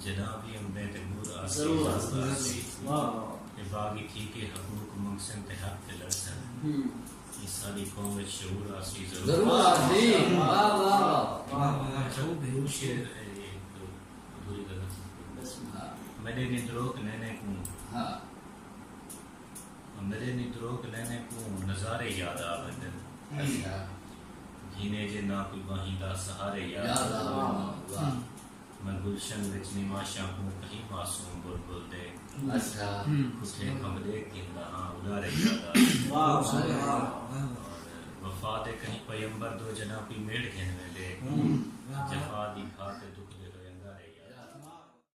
جناب دی امدیں تے ڈور آسی اجازت آسی تے باغی تھی کے حقوق منگسن تے حق تے لڑسن یہ ساری قوم وچ شعور آسی ضرور آسی واہ واہ واہ واہ جو بھی شعر ہے یہ تو ادھوری غلط میرے نی دروک نینے کو ہاں۔ میرے نی دروک نینے کو نظارے یاد آ بندن گھینے جے نہ کوئی باہیں دا سہارے یاد آ میں گلشن وچ نواں شاہوں کہیں معصوم بلبل دے پٹھے کھمب ݙیکھ گھندا ہاں اݙارے جاڳا وفا دے کہیں پیمبر دو جݙاں کوئی میڑھ گھن ویندے جفا دی گھاہ تے دکھدے ہوئے انگارے جاڳا